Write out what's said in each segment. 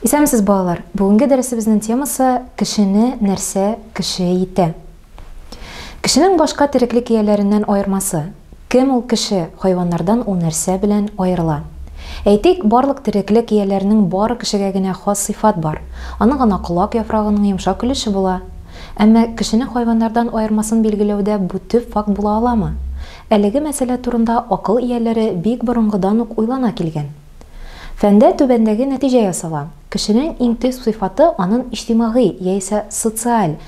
Исәнмесез, балалар! Бүгенге дәресебезнең темасы Кешене нәрсә кеше итә? Кешенең башка тереклек ияләреннән аермасы. Кем ул кеше, хайваннардан ул нәрсә белән аерыла? Әйтик, барлык тереклек ияләренең бары кешегә генә хас сыйфат бар, аның гына колак яфрагының йомшак өлеше була. Әмма кешене хайваннардан аермасын билгеләүдә бу төп факт була аламы? Әлеге мәсьәлә турында акыл ияләре бик борынгыдан ук уйлана килгән. Фәндә түбәндәге нәтиҗә ясала, кешенең иң төп сыйфаты анын иҗтимагый яисә социаль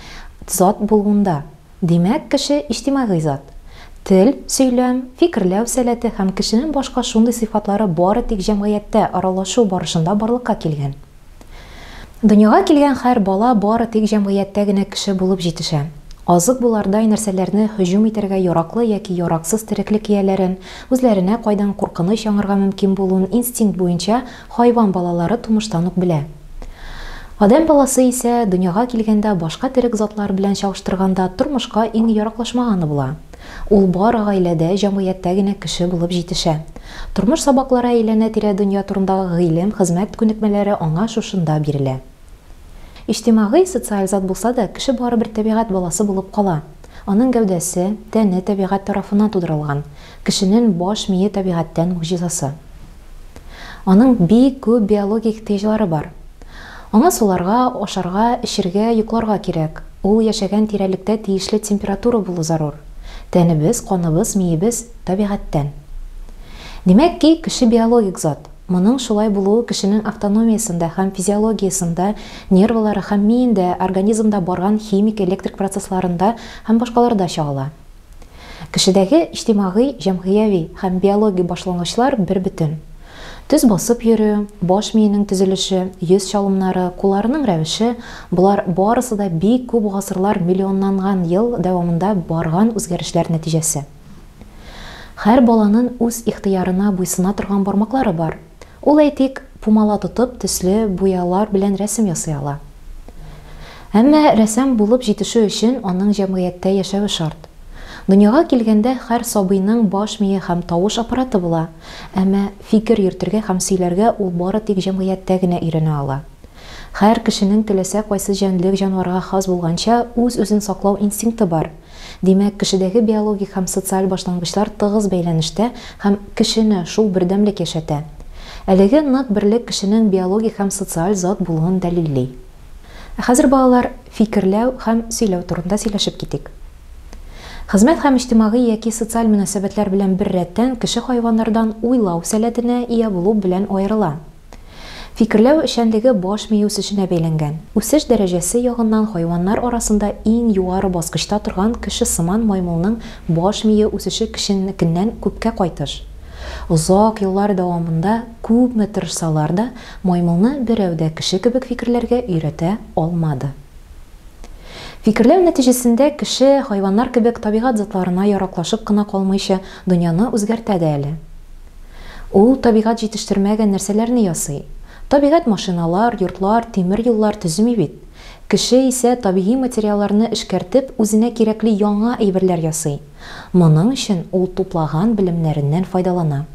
зат булуында. Димәк, кеше иҗтимагый зат. Тел, сөйләм, фикерләү сәләте һәм кешенең башка шундый сыйфатлары бары тик җәмгыятьтә аралашу барышында барлыкка килгән. Дөньяга килгән хәр бала бары тик җәмгыятьтә генә кеше булып җитешә. Азык булардай нәрсәләрне һөҗүм итәргә яраклы яки яраксыз тереклек ияләрен, үзләренә кайдан куркыныч яңарга мөмкин булуын инстинкт буенча хайван балалары тумыштан ук белә. Адәм баласы исә, дөньяга килгәндә башка терек затлар белән чагыштырганда, тормышка иң яраклашмаганы була. Ул бары гаиләдә, җәмгыятьтә генә кеше булып җитешә. Тормыш сабаклары әйләнә-тирә дөнья турындагы гыйлем, хезмәт күнекмәләре аңа шушында бирелә. Иҗтимагый, социаль зат булса да, кеше барыбер тәбигать баласы булып кала. Аның гәүдәсе, тәне тәбигать тарафыннан тудырылган. Кешенен баш мие табигатьтән могҗизасы. Аның бик күп биологик ихтыяҗлары бар. Аңа суларга, ашарга, эчергә, йокларга кирәк. Ул яшәгән тирәлектә тиешле температура булу зарур. Тәнебез, каныбыз, миебез, табигатьтән. Димәк ки, кеше биологик зат. Моның шулай булуы кешенең автономиясендә һәм физиологиясендә, нервылары һәм миендә, организмда барган химик-электрик процессларында һәм башкаларда чагыла. Кешедәге иҗтимагый, җәмгыяви һәм биологик башлангычлар бербөтен. Төз басып йөрү, баш миенең төзелеше, йөз чалымнары, кулларының рәвеше, болар барысы да бик күп гасырлар, миллионнанган ел дәвамында барган үзгәрешләр нәтиҗәсе. Һәр баланын үз ихтыярына буйсына торган бармаклары бар. Ул, әйтик, пумала тотып, төсле буялар белән рәсем ясый ала. Әмма рәссам булып җитешү өчен аның җәмгыятьтә яшәве шарт. Дөньяга килгәндә һәр сабыйның баш мие һәм тавыш аппараты була, әмма фикер йөртергә һәм сөйләргә ул бары тик җәмгыятьтә генә өйрәнә ала. Һәр кешенең теләсә кайсы җәнлек-җанварга хас булганча үз-үзен саклау инстинкты бар. Димәк, кешедәге биологик һәм социаль башлангычлар тыгыз бәйләнештә һәм кешене шул бердәмлек яшәтә. Әлеге нык берлек кешенең биологик һәм социаль зат булуын дәлилли. Ә хәзер, балалар, фикерләү һәм сөйләү турында сөйләшеп китик. Хезмәт һәм иҗтимагый яки социаль мөнәсәбәтләр белән беррәттән кеше хайваннардан уйлау сәләтенә ия булу белән аерыла. Фикерләү эшчәнлеге баш мие үсешенә бәйләнгән. Үсеш дәрәҗәсе ягыннан хайваннар арасында иң югары баскычта торган кешесыман маймылның баш мие үсеше кешенекеннән күпкә кайтыш. Озак еллар дәвамында күпме тырышсалар да, маймылны берәү дә кеше кебек фикерләргә өйрәтә алмады. Фикерләү нәтиҗәсендә кеше, хайваннар кебек, табигать затларына яраклашып кына калмыйча, дөньяны үзгәртә дә әле. Ул табигать җитештермәгән нәрсәләрне ясый. Табигать машиналар, йортлар, тимер юллар төземи бит. Кеше исә табигый материалларны эшкәртеп, үзенә кирәкле яңа әйберләр ясый. Моның өчен ул туплаган белемнәреннән файдалана.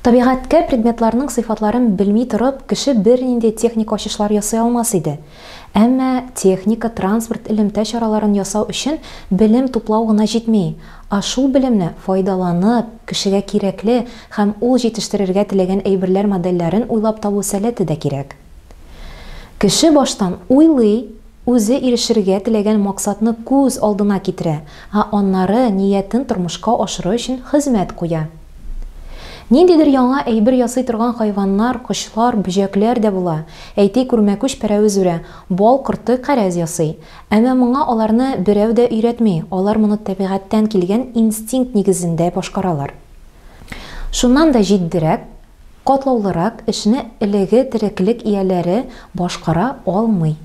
Табигатькә предметларның сыйфатларын белми торып, кеше бернинди техник ачышлар ясый алмас иде. Әмма техника, транспорт, элемтә чараларын ясау өчен белем туплау гына җитми, а шул белемне файдаланып, кешегә кирәкле һәм ул җитештерергә теләгән әйберләр модельләрен уйлап табу сәләте дә кирәк. Кеше баштан уйлый, үзе ирешергә теләгән максатны күз алдына китерә, а аннары ниятен тормышка ашыру өчен хезмәт куя. Ниндидер яңа әйбер ясый торган хайваннар, кошлар, бөҗәкләр дә була. Әйтик, үрмәкүч пәрәвез үрә, бал корты кәрәз ясый. Әмма моңа аларны берәү дә өйрәтми, алар моны тәбигатьтән килгән инстинкт нигезендә башкаралар. Шуннан да җитдирәк, Катлаулырак эшне элеге тереклек ияләре башкара алмый.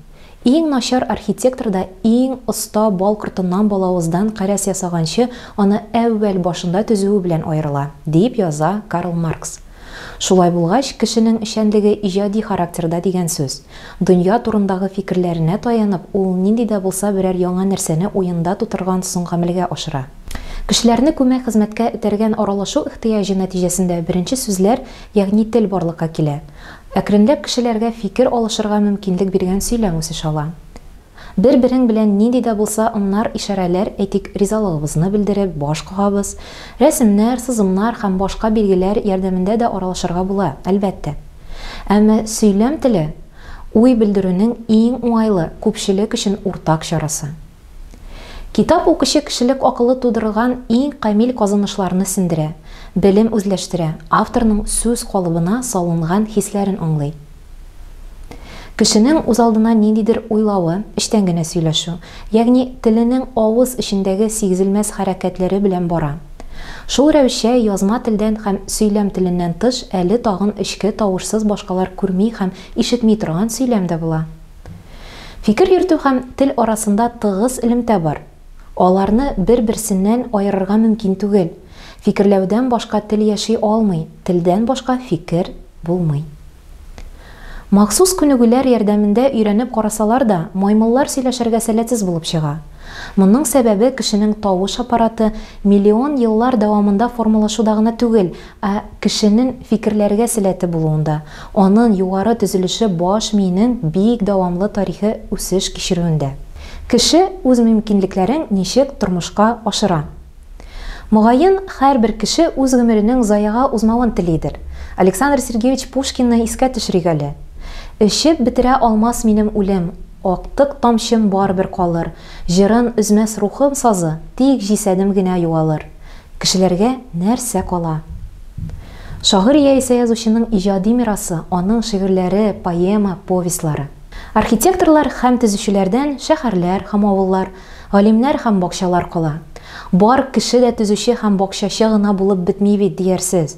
Иң начар архитектор да иң оста бал кортыннан балавыздан кәрәз ясаганчы аны әүвәл башында төзүе белән аерыла, диеп яза Карл Маркс. Шулай булгач, кешенең эшчәнлеге иҗади характерда дигән сүз. Дөнья турындагы фикерләренә таянып, ул нинди дә булса берәр яңа нәрсәне уенда тутырган соң гамәлгә ашыра. Кешеләрне күмәк хезмәткә этәргән аралашу ихтыяҗы нәтиҗәсендә беренче сүзләр, ягъни тел барлыкка килә. Әкренләп кешеләргә фикер алышырга мөмкинлек биргән сөйләм үсеш ала. Бер-берең белән нинди дә булса ымнар-ишарәләр, әйтик, ризалыгыбызны белдереп, баш кагабыз. Рәсемнәр, сызымнар һәм башка билгеләр ярдәмендә дә аралашырга була, әлбәттә. Әмма сөйләм теле, уй белдерүнең иң уңайлы, күпчелек өчен уртак чарасы. Китап укучы кешелек акылы тудырылган иң камил казанышларны сеңдерә, белем үзләштерә, авторның сүз калыбына салынган хисләрен аңлый. Кешенең үзалдына ниндидер уйлавы, эчтән генә сөйләшү, ягъни теленең авыз эчендәге сигезелмәс хәрәкәтләре белән бара. Шул рәвешчә язма телдән һәм сөйләм теленнән тыш әле тагын эчке тавышсыз башкалар күрми һәм ишетми торган сөйләм дә була. Фикер йөртү һәм тел арасында тыгыз элемтә бар. Аларны бер-берсеннән аерырга мөмкин түгел. Фикерләүдән башка тел яши алмый, телдән башка фикер булмый. Махсус күнегүләр ярдәмендә өйрәнеп карасалар да, маймыллар сөйләшергә сәләтсез булып чыга. Моның сәбәбе кешенең тавыш аппараты миллион еллар дәвамында формалашуда гына түгел, Ә кешенең фикерләргә сәләте булуында, анын югары төзелеше баш миенең бик дәвамлы тарихи үсеш кичерүендә. Кеше үз мөмкинлекләрен ничек тормышка ашыра? Мөгаен, һәрбер кеше үз гомеренең заяга узмавын телидер. Александр Сергеевич Пушкинны искә төшерик әле. Эчеп бетерә алмас минем үлем, Актык тамчым барыбер калыр, Җырын өзмәс рухым сазы, Тик җисәдем генә югалыр. Кешеләргә нәрсә кала? Шагыйрь яисә язучының иҗади мирасы, аның шигырьләре, поэма, повестьлары. Архитекторлар һәм төзүчеләрдән шәһәрләр һәм авыллар, галимнәр һәм бакчалар кала. Бар кеше дә төзүче һәм бакчачы гына булып бетми бит, диярсез.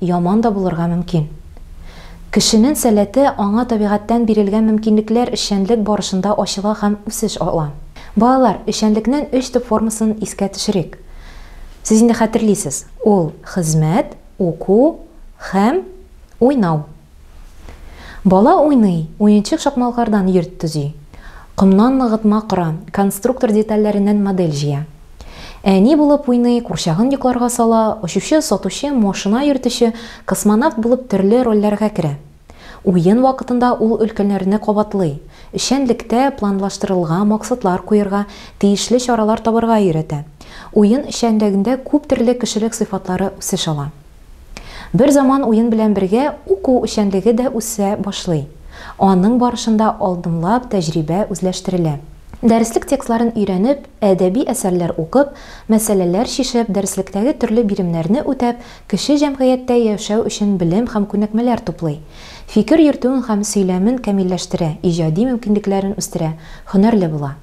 Яман да булырга мөмкин. Кешенен сәләте аңа табигатьтән бирелгән мөмкинлекләр эшчәнлек барышында ачыла һәм үсеш ала. Балалар, эшчәнлекнен өч төп формасын искә төшерик. Сез инде хәтерлисез, ул, хезмәт, уку һәм уйнау. Бала уйный, уенчык шакмалкардан йорт төзи. Комнан ныгытма кора, конструктор детальләреннән модель җыя. Әни булып уйный, курчагын йокларга сала, очучы, сатучы, машина йөртүче, космонавт булып төрле рольләргә керә. Уен вакытында ул өлкәннәрне кабатлый, эшчәнлектә планлаштырылга максатлар куерга, тиешле чаралар табарга өйрәтә. Уен эшчәнлегендә күп төрле кешелек сыйфатлары үсеш ала. Бер заман уен белән бергә уку эшчәнлеге дә үсә башлый. Аның барышында алдынлап тәҗрибә үзләштерелә. Дәреслек текстларын өйрәнеп, әдәби әсәрләр укып, мәсьәләләр чишеп, дәреслектәге төрле биремнәрне үтәп, кеше җәмгыятьтә яшәү өчен белем һәм күнекмәләр туплый. Фикер йөртүен һәм сөйләмен камилләштерә, иҗади мөмкинлекләрен үстерә, һөнәрле була.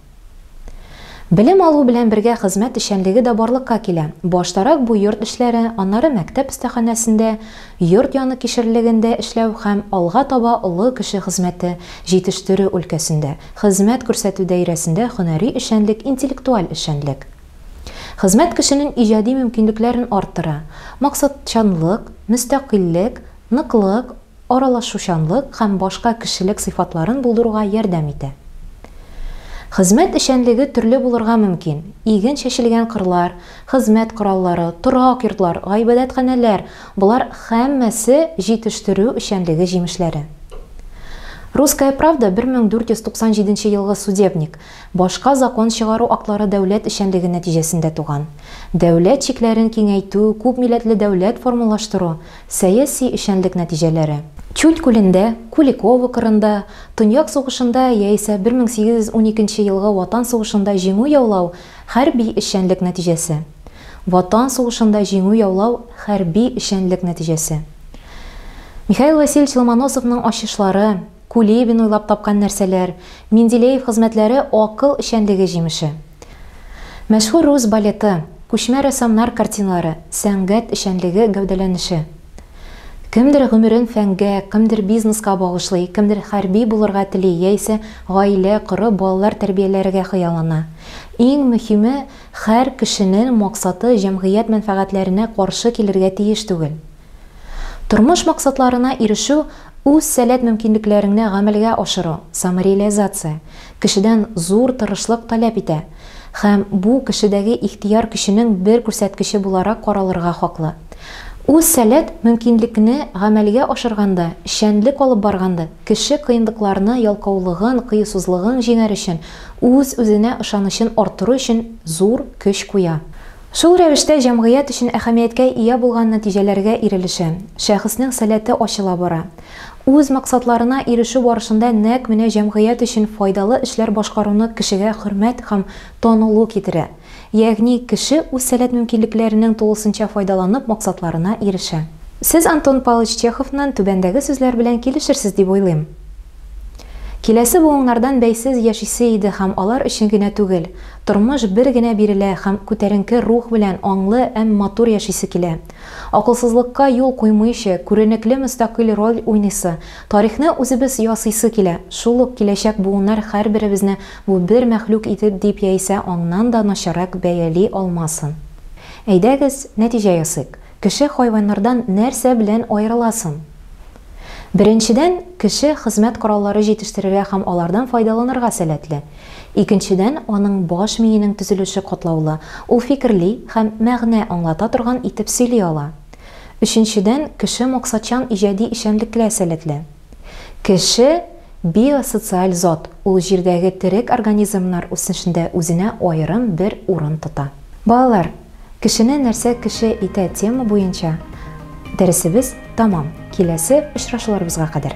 Белем алу белән бергә хезмәт эшчәнлеге дә барлыкка килә. Баштарак бу йорт эшләре, аннары мәктәп остаханәсендә, йорт яны кишерлегендә эшләү һәм алга таба олы кеше хезмәте, җитештерү өлкәсендә, хезмәт күрсәтү даирәсендә һөнәри эшчәнлек, интеллектуаль эшчәнлек. Хезмәт кешенең иҗади мөмкинлекләрен арттыра, максатчанлык, мөстәкыйльлек, ныклык, аралашучанлык һәм башка кешелек сыйфатларын булдыруга ярдәм итә. Хезмәт эшчәнлеге төрле булырга мөмкин, иген чәчелгән кырлар, хезмәт кораллары, торак йортлар, гыйбадәтханәләр, болар һәммәсе җитештерү эшчәнлеге җимешләре. Русская правда 1497 елгы судебник, башка закон чыгару актлары дәүләт эшчәнлеге нәтиҗәсендә туган. Дәүләт чикләрен киңәйтү, күпмилләтле дәүләт формалаштыру, Сәяси эшчәнлек нәтиҗәләре. Чуд күлендә, Куликово кырында, Төньяк сугышында яисә 1812 елгы Ватан сугышында җиңү яулау, хәрби эшчәнлек нәтиҗәсе. Ватан сугышында җиңү яулау, хәрби эшчәнлек нәтиҗәсе. Михаил Васильевич Ломоносовның ачышлары, Кулибин уйлап тапкан нәрсәләр, Менделеев хезмәтләре акыл эшчәнлеге җимеше. Мәшһүр рус балеты, күчмә рәссамнар картиналары, сәнгать эшчәнлеге гәүдәләнеше. Кемдер гомерен фәнгә, кемдер бизнеска багышлый, кемдер хәрби булырга тели яисә гаилә корып, балалар тәрбияләргә хыяллана. Иң мөһиме, хәр кешенен максаты җәмгыять мәнфәгатьләренә каршы килергә тиеш түгел. Тормыш максатларына ирешү, үз сәләт мөмкинлекләреңне гамәлгә ашыру, самореализация, кешедән зур тырышлык таләп итә һәм бу кешедәге ихтыяр көченең бер күрсәткече буларак каралырга хаклы. Үз сәләт мөмкинлекне гамәлгә ашырганда, эшчәнлек алып барганда, кеше кыенлыкларны ялкаулыгын, кыюсызлыгын җиңәр өчен, үз-үзенә ышанычын арттыру өчен зур көч куя. Шул рәвештә җәмгыять өчен әһәмияткә ия булган нәтиҗәләргә ирелешә, шәхеснең сәләте ачыла бара. Үз максатларына ирешү барышында нәкъ менә җәмгыять өчен файдалы эшләр башкаруны кешегә хөрмәт һәм танылу китерә. Ягъни кеше үз сәләт-мөмкинлекләренең тулысынча файдаланып максатларына ирешә. Сез Антон Палыч Чеховнан түбәндәге сүзләр белән килешерсез дип уйлыйм. Киләсе буыннардан бәйсез яшисе иде һәм алар өчен генә түгел, тормыш бер генә бирелә һәм күтәренке рух белән аңлы эм матур яшисе килә. Акылсызлыкка юл куймыйчы, күренекле мөстәкыйль роль уйныйсы, тарихны үзебез ясыйсы килә, шул ук киләчәк буыннар хәрберебезне бу бер мәхлүк итеп дип яисә аңнан да начаррак бәяли алмасын. Әйдәгез, нәтиҗә ясыйк. Кеше хайваннардан нәрсә белән аерыла сон? Беренчедән, кеше хезмәт кораллары җитештерергә һәм алардан файдаланырга сәләтле. Икенчедән, аның баш миенең төзелеше катлаулы, ул фикерли һәм мәгънә аңлата торган итеп сөйли ала. Өченчедән, кеше максатчан иҗади эшчәнлеклә сәләтле. Кеше. Биосоциаль зат, ул җирдәге терек организмнар үсешендә үзенә аерым бер урын тота. Балалар, кешене нәрсә кеше итә тема буенча дәресебез тәмам. Киләсе очрашуларыбызга кадәр!